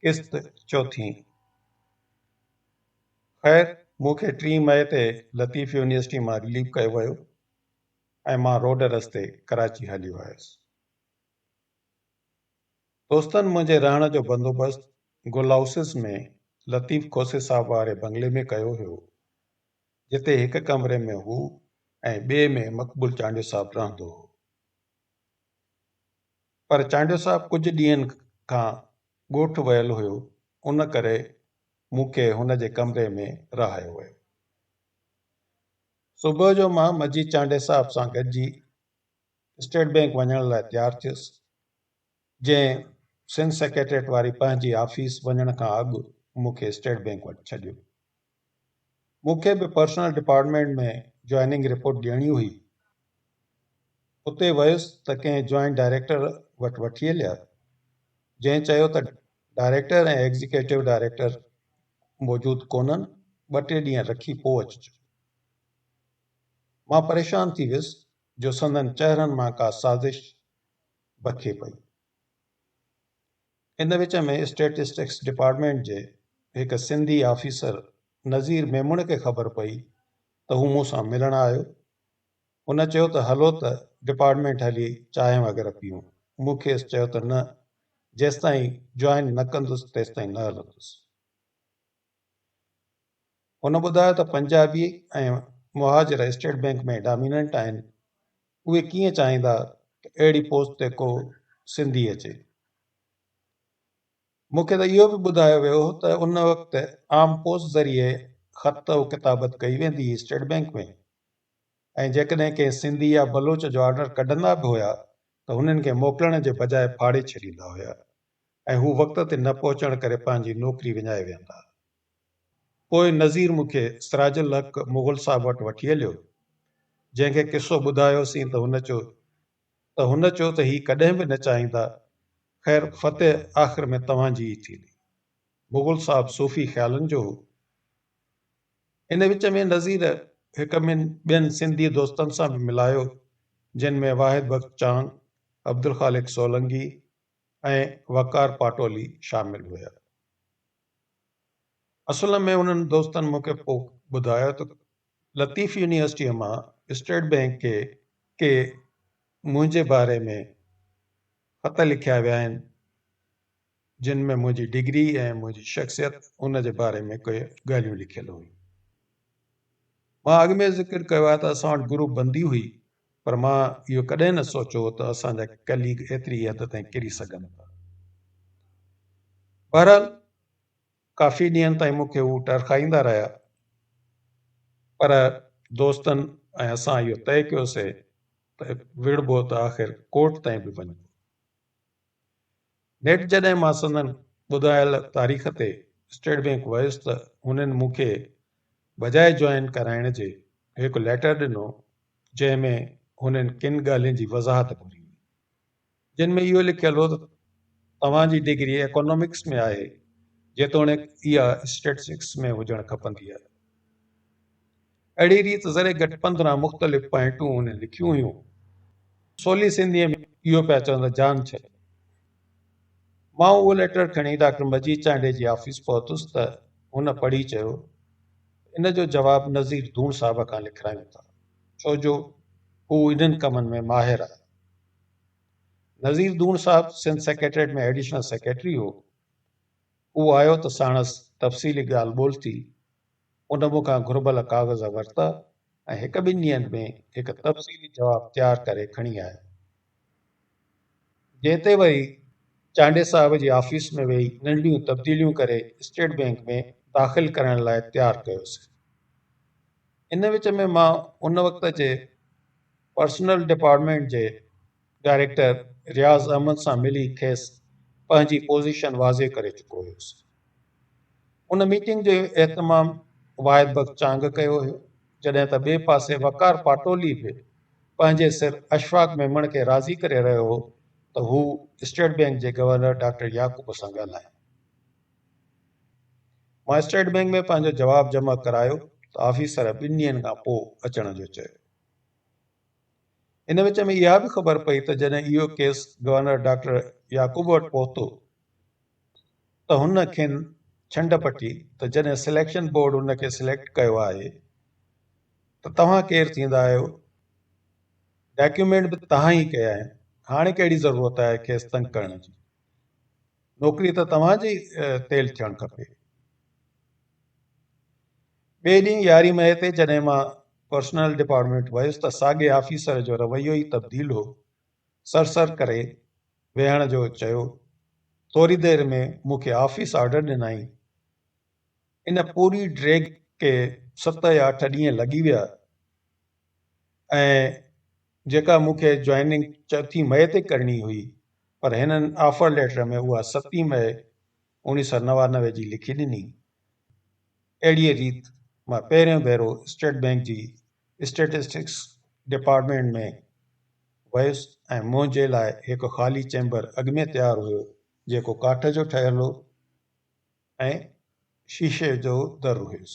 قسط چوٿين. خير مون کي ٽين مئي تي لطيف يونيورسٽي مان رليف ڪيو ويو ۽ مان روڊ رستي ڪراچي هليو آيس. دوستن منهنجي رهڻ جو بندوبست گل هائوسز ۾ لطيف کوسي صاحب واري بنگلي ۾ ڪيو هيو جتي هڪ ڪمري ۾ هو ۽ ٻئي ۾ مقبول چانڊيو صاحب رهندو هو. پر چانڊيو صاحب ڪجهه ڏينهن کان ڳوٺ ويل هيو، ان ڪري مون کي هن جي ڪمري ۾ رهايو ويو. صبح جو مان مجيد چانڊيو صاحب سان گڏجي اسٽيٽ بئنڪ وڃڻ لاء تيار ٿيس، جنهن سنڌ سيڪريٽريٽ واري پنهنجي آفيس وڃڻ کان اڳ مون کي اسٽيٽ بئنڪ وٽ ڇڏيو. مون کي به پرسنل ڊپارٽمينٽ ۾ جوائننگ رپورٽ ڏيڻي هئي. اتي ويس ته ڪنهن جوائنٽ ڊائريڪٽر وٽ وٺي هليا، جنهن چيو ته ڊائريڪٽر ۽ ايگزيڪيوٽو ڊائريڪٽر موجود ڪونهن، ٻه ٽي ڏينهن رکي پوء اچجو. مان پريشان ٿي ويس جو سندن چهرن مان ڪا سازش بکي پئي. ان وچ ۾ اسٽيٽسٽڪس ڊپارٽمينٽ جي هڪ سنڌي آفيسر نظير ميمڻ کي خبر پئي ته هو مون سان ملڻ آيو. هن چيو ته هلو ته ڊپارٽمينٽ هلي چانهه وغيره پيئون. مون کيس چيو ته نه جيستائين جوائن نه ڪندس تيستائين نه هلندس. هن ٻڌايو ته Punjabi ۽ Mohajir state bank ۾ dominant آهن، اهي ڪيئن چاهيندا ته اهڙي پوسٽ تي ڪو سنڌي اچي. مون کي ته اهو به ٻڌايو ويو ته ان وقت عام پوسٽ ذريعي خط و ڪتابت ڪئي ويندي هئي اسٽيٽ بئنڪ ۾ ۽ جيڪڏهن ڪنهن سنڌي يا بلوچ جو آرڊر ڪڍندا به هيا ته هنن کي موڪلڻ جي بجاء ڦاڙي ڇڏيندا هيا. ۽ هو وقت تي نه پهچڻ ڪري پنهنجي نوڪري وڃائي ويهندا. پوء نذير مون کي سراج الحق مغل صاحب وٽ وٺي هليو، جنهن کي قصو ٻڌايوسين ته هن چيو ته هن چيو ته هي ڪڏهن به نه چاهيندا، خير فتح آخر ۾ توهان جي ئي ٿيندي. مغل صاحب صوفي خيالن جو هو. ان وچ ۾ نذير هڪ ٻن ٻين سنڌي دوستن سان به ملايو، جن ۾ واحد بخش چانگ، عبدالخالق سولنگي، ۽ وقار پاٽولي شامل هيا. اصل ۾ انهن دوستن مون کي پوء ٻڌايو ته لطيف يونيورسٽيء مان اسٽيٽ بئنڪ کي ڪي منهنجي باري ۾ خط لکيا ويا آهن، جن ۾ منهنجي ڊگري ۽ منهنجي شخصيت ان جي باري ۾ ڪي ڳالهيون لکيل هيون. مان اڳ ۾ ذڪر ڪيو آهي ته اسان وٽ گروپ بندي هئي، پر مان اهو ڪڏهن نه سوچيو هو ته اسان جا ڪليگ ايتري ئي حد تائين ڪري سگهن ٿا. بهرحال ڪافي ڏينهن تائين مون کي هو ٽرخائيندا رهيا پر دوستن ۽ اسان اهو طئي ڪيوسي ته وڙهبو ته آخر ڪورٽ تائين به وڃبو. نيٺ جڏهن مان سندن ٻڌايل تاريخ تي اسٽيٽ بئنڪ ويس ته هنن مون کي بجاء جوائن ڪرائڻ جي هڪ ليٽر ڏنو جنهن ۾ هنن ڪن ڳالهين جي وضاحت گهري هئي جن ۾ اهو لکيل هو ته توهان جي ڊگري اڪانومڪس ۾ آهي جيتوڻيڪ اها اسٽيٽسٽڪس ۾ هجڻ کپندي آهي اهڙي ريت ذري گهٽ پندرهن مختلف پوائنٽون هن لکيون هيون. سولي سنڌيء ۾ اهو پيا چون ته جان ڇڏ. مان اهو ليٽر کڻي ڊاڪٽر مجيد چانڊيي جي آفيس پهتس ته هن پڙهي چيو ته ان جو جواب نذير ڌوڻ صاحب کان لکرايون ٿا، ڇو جو هو انهن ڪمن ۾ ماهر آهي. Nazir Dhoon sahib Sindh secretariat ۾ additional secretary هو. هو آيو ته ساڻس تفصيلي ڳالهه ٻولهه ٿي. ان مون کان گهربل ڪاغذ ورتا ۽ هڪ ٻن ڏينهن ۾ هڪ تفصيلي جواب تيار ڪري کڻي آيو. جنهن تي وري چانڊئي صاحب جي آفيس ۾ ويهي ننڍڙيون تبديليون ڪري اسٽيٽ بئنڪ ۾ داخل ڪرڻ لاء تيار ڪيوسين. ان وچ ۾ مان ان وقت جي پرسنل ڊپارٽمينٽ جي ڊائريڪٽر رياض احمد سان ملي کيس پنهنجي پوزيشن واضح ڪري چڪو هيس. ان ميٽنگ جو اهتمام واحد بخش چانگ ڪيو هيو، جڏهن ته ٻئي پاسي وقار پاٽولي به پنهنجي سر اشفاق ميمڻ کي راضي ڪري رهيو هو ته هو اسٽيٽ بئنڪ جي گورنر ڊاڪٽر يعقوب سان ڳالهائين. مان اسٽيٽ بئنڪ ۾ پنهنجو جواب جمع ڪرايو ته آفيسر ٻن ڏينهن کان پوء اچڻ جو چيو. ان وچ ۾ اها به خبر پئي ته جڏهن اهو ڪيس گورنر ڊاڪٽر يعقوب وٽ پهتو ته هن کين ڇنڊ پٽي ته جڏهن سليڪشن بورڊ هن کي سليڪٽ ڪيو آهي ته توهان ڪير ٿيندا آهيو؟ ڊاڪيومينٽ به توهان ئي ڪيا آهن، هاڻي ڪهڙي ضرورت آهي کيس تنگ ڪرڻ جي؟ نوڪري ته توهان جي تيل ٿيڻ کپي. ٻئي ڏينهن يارهين مئي تي جڏهن مان پرسنل ڊپارٽمينٽ ويس ته ساڳئي آفيسر جو رويو ئي تبديل هو، سر سر ڪري ويهڻ جو چيو، ٿوري دير ۾ مون کي آفيس آرڊر ڏنائين. ان پوري ڊريگ کي ست يا اٺ ڏينهن لڳي ويا ۽ جيڪا مون کي جوائننگ چوٿين مئي تي ڪرڻي هئي پر هنن آفر ليٽر ۾ اها ستين مئي اوڻيهه سؤ نوانوي جي لکي ڏني. اهڙيء ريت مان پهريون ڀيرو اسٽيٽ بئنڪ جي اسٽيٽسٽڪس ڊپارٽمينٽ ۾ ويس ۽ منهنجي لاء هڪ خالي چيمبر اڳ ۾ تيار هيو جيڪو ڪاٺ جو ٺهيل هو ۽ شيشي جو در هيس.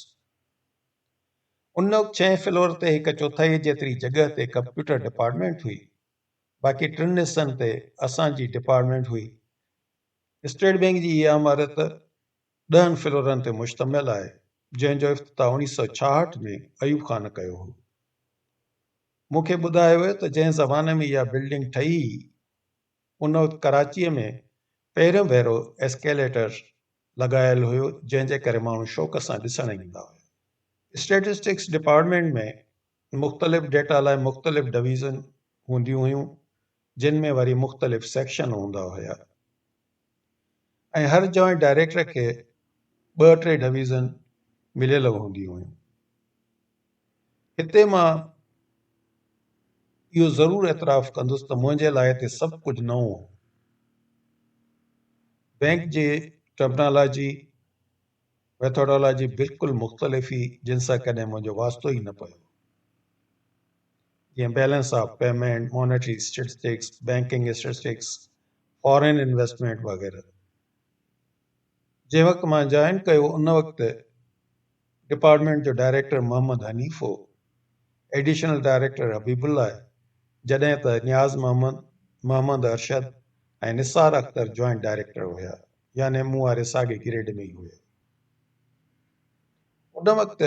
ان وقت ڇهين فلور تي هڪ چوٿائيء جيتري جڳهه تي ڪمپيوٽر ڊپارٽمينٽ هئي. باقي ٽن حصن تي اسان جي ڊپارٽمينٽ هئي. اسٽيٽ بئنڪ جي اها عمارت ڏهن فلورن تي مشتمل آهي، جنهن جو افتتاح اوڻيهه سؤ ڇاهٺ ۾ ايوب خان ڪيو هو. مون کي ٻڌايو ويو ته جنهن زماني ۾ اها بلڊنگ ٺهي هئي، ان وقت ڪراچيء ۾ پهريون ڀيرو ايسڪيليٽر لڳايل هيو، جنهن جي ڪري ماڻهو شوق سان ڏسڻ ايندا هيا. اسٽيٽسٽڪس ڊپارٽمينٽ ۾ مختلف ڊيٽا لاء مختلف ڊويزن هونديون هيون جن ۾ وري مختلف سيڪشن هوندا هيا ۽ هر جوائنٽ ڊائريڪٽر کي ٻه ٽي ڊويزن مليل هونديون هيون هتي مان اهو ضرور اعتراف ڪندس ته منهنجي لاء هتي سڀ ڪجهه نئون هو بينڪ جي ٽرمنالاجي ميٿوڊالاجي بلڪل مختلف هئي جن سان ڪڏهن منهنجو واسطو ئي نه پيو. جيئن balance of payment, monetary statistics, banking statistics, foreign investment وغيره. جنهن وقت مان جوائن ڪيو ان وقت ڊپارٽمينٽ جو ڊائريڪٽر محمد حنيف هو، ايڊيشنل ڊائريڪٽر حبيب الله آهي، جڏهن ته نياز محمد، محمد ارشد ۽ نثار اختر جوائنٽ ڊائريڪٽر هيا. يعني مون واري ساڳي گريڊ ۾ ئي هئي. ان وقت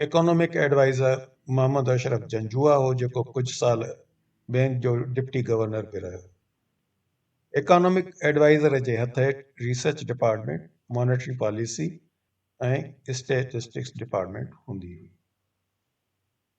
ايڪانومڪ ايڊوائيزر محمد اشرف جنجوعا هو جيڪو ڪجهه سال بئنڪ جو ڊپٽي گورنر به رهيو. ايڪانومڪ ايڊوائيزر جي هٿ هيٺ research department, monetary policy ۽ statistics department هوندي هئي.